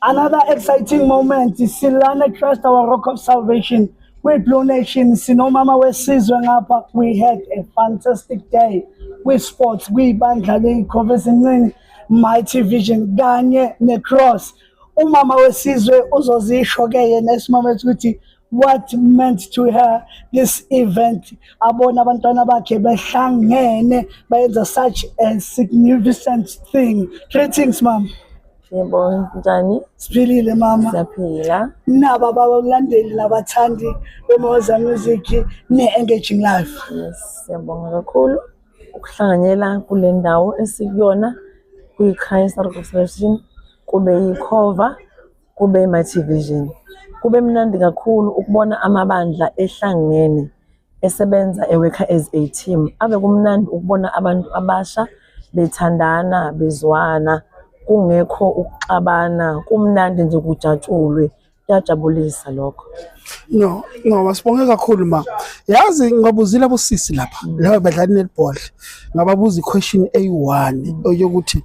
Another exciting moment silana Christ our rock of salvation kwi Blue Nation sinomama wesizwe ngapha we had a fantastic day kwi sports kwi bandla le Covers Ncini Mighty Vision kanye ne Cross umama wesizwe uzozisho ke yena esimama ukuthi what meant to her this event abona abantwana bakhe behlangene bayenza such a significant thing greetings mom Siyabonga njani? Siphilile mama. Siyaphila. Naba babalandeli labathandi beMoza Music ne-engaging life. Yes, siyabonga kakhulu ukuhlanganyela kule ndawo esikuyona kwi-Christ Restoration kube yikhova Kube i-My Vision. Kube mnandi kakhulu ukubona amabandla ehlangene esebenza ewekha as a team. Ave kumnandi ukubona abantu abasha bethandana bezwana kungekho ukuxabana kumnandi nje kujatshulwe kuyajabulisa lokho no ngoba sibonge kakhulu ma yazi ngibabuzile abosisi lapha mm. laba badlali netball ngababuza i-question eyi-one mm. yokuthi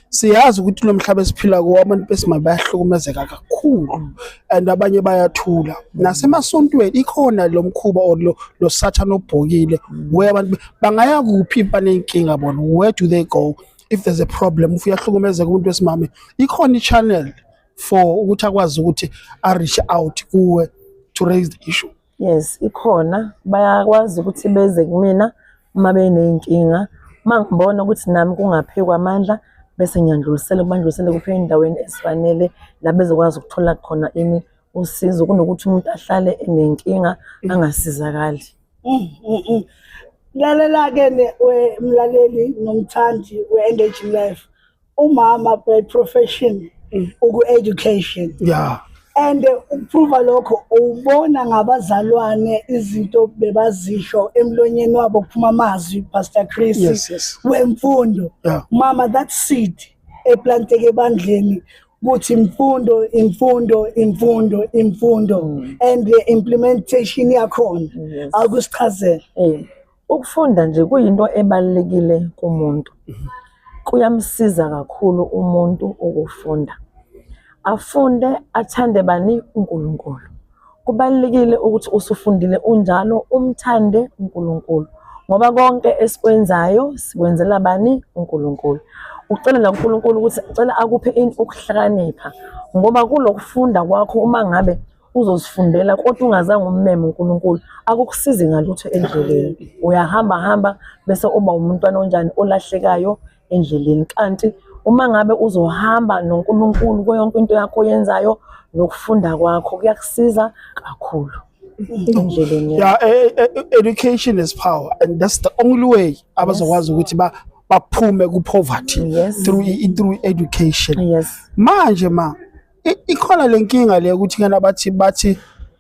siyazi ukuthi lo mhlaba esiphila kuwo abantu besimame bayahlukumezeka kakhulu and abanye bayathula nasemasontweni ikhona lo mkhuba or lo, lo sathane obhokile where abantu bangaya kuphi banenkinga bona where do they go if there's a problem if uyahlukumezeka umuntu wesimame ikhona i-channel for ukuthi akwazi ukuthi a-reach out kuwe to raise the issue Yes, ikhona bayakwazi ukuthi beze kumina uma beney'nkinga. Uma ngibona ukuthi nami kungaphekwa amandla bese ngiyandlulisela kubandlulisele kuphe endaweni ezifanele la bezokwazi ukuthola khona ini usizo kunokuthi umuntu ahlale enenkinga angasizakali. Mm, mm, mm. Lalela-ke mlaleli nomthandi we-engaging life umama by profession mm. uku education yeah and ukuprova lokho ubona ngabazalwane izinto bebazisho emlonyeni wabo kuphuma amazwi pastor Chris yes, yes. wemfundo yeah. mama that seed eplanteke ebandleni ukuthi imfundo imfundo imfundo imfundo mm. and the implementation yakhona mm, yes. akusichazela mm. Ukufunda nje kuyinto ebalulekile kumuntu. Kuyamsiza kakhulu umuntu ukufunda. Afunde athande bani uNkulunkulu. Kubalulekile ukuthi usufundile unjalo umthande uNkulunkulu ngoba konke esikwenzayo sikwenzela bani uNkulunkulu. Ucelela uNkulunkulu ukuthi cela akuphe ukuhlakanipha ngoba kulokufunda kwakho uma ngabe uzozifundela kodwa ungazange ummeme uNkulunkulu akukusizi ngalutho endleleni uyahamba hamba bese uba umntwana onjani olahlekayo endleleni kanti uma ngabe uzohamba noNkulunkulu kuyonke into yakho oyenzayo nokufunda kwakho kuyakusiza kakhulu endleleni yeah e, e, e, education is power and that's the only way abazokwazi ukuthi ba baphume ku poverty yes. through through education yes manje ma ikhona le nkinga le ukuthi kena bathi bathi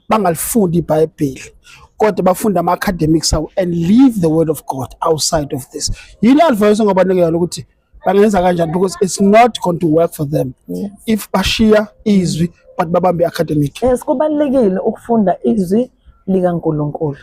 bangalifundi ibhayibheli kodwa bafunde ama-academics awo and leave the word of god outside of this yini advice ongabanika yona ukuthi bangenza kanjani because it's not going to work for them yes. if bashiya izwi but babambe i-academic yes kubalulekile ukufunda izwi likaNkulunkulu.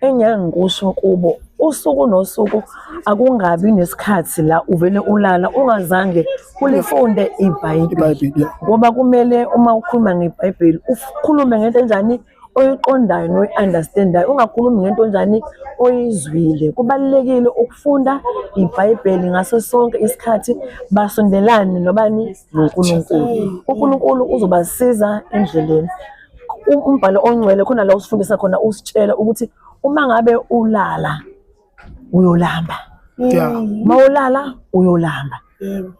Engiyake ngikusho kubo usuku nosuku akungabi nesikhathi la uvele ulala ungazange ulifunde ibhayibheli ngoba kumele uma ukhuluma ngebhayibheli ukhulume ngento enjani oyiqondayo noyi-understandayo ungakhulumi ngento njani oyizwile kubalulekile ukufunda ibhayibheli ngaso sonke isikhathi basondelane nobani nonkulunkulu unkulunkulu uzobasiza endleleni umbhalo ongcwele khona la usifundisa khona usitshela ukuthi uma ngabe ulala uyolamba yeah uma ulala uyolamba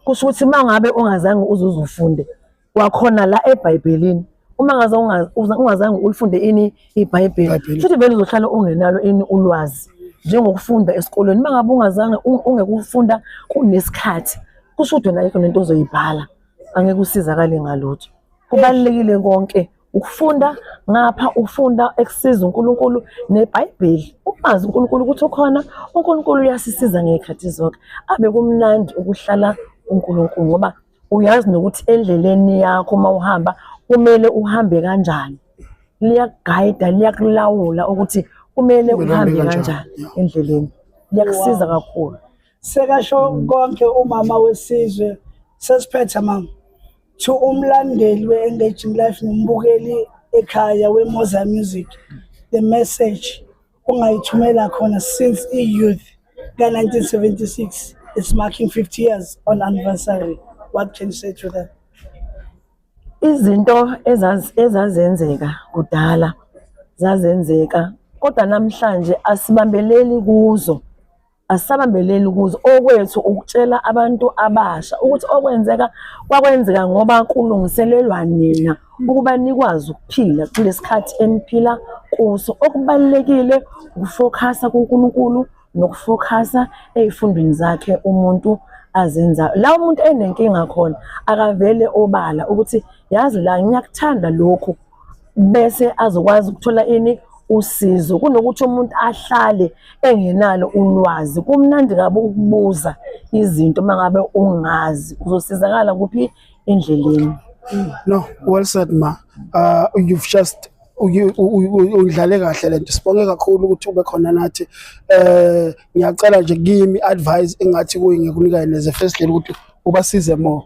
kusho ukuthi uma ngabe ungazange uzuze ufunde wakhona la ebhayibhelini uma ngaze ungazange ulifunde ini ibhayibheli futhi vele uzohlala ungenalo ini ulwazi njengokufunda esikolweni uma ngabe ungazange ungekufunda kunesikhathi kusho ukuthi wena ayikho nento ozoyibhala angeke usizakale ngalutho kubalulekile konke ukufunda ngapha ufunda ekusiza uNkulunkulu neBhayibheli umazi uNkulunkulu ukuthi ukhona uNkulunkulu uyasisiza ngezikhathi zonke abe kumnandi ukuhlala uNkulunkulu ngoba uyazi nokuthi endleleni yakho uma uhamba kumele uhambe kanjani liyakugayida liyakulawula ukuthi kumele uhambe kanjani endleleni liyakusiza kakhulu sekasho konke umama wesizwe sesiphethe mama to umlandeli we-engaging life nombukeli ekhaya wemoza music the message ungayithumela khona since i-youth ka-1976 it's marking 50 years on anniversary what can you say to that izinto ezazenzeka kudala zazenzeka kodwa namhlanje asibambeleli kuzo asisabambeleli kuzo okwethu ukutshela abantu abasha ukuthi okwenzeka kwakwenzeka ngoba kulungiselelwa nina ukuba nikwazi ukuphila kulesikhathi eniphila kuso okubalekile ukufokhasa kuNkulunkulu nokufokhasa ezifundweni zakhe umuntu azenzayo la umuntu enenkinga khona akavele obala ukuthi yazi la ngiyakuthanda lokhu bese azokwazi ukuthola ini usizo kunokuthi umuntu ahlale engenalo ulwazi kumnandi kabi ukubuza izinto mangabe ungazi uzosizakala kuphi endleleni no well said ma uh, you've just udlale kahle lento sibonge kakhulu ukuthi ube khona nathi eh ngiyacela nje kimi advice engathi kuyi ngikunika neze first lady ukuthi ubasize more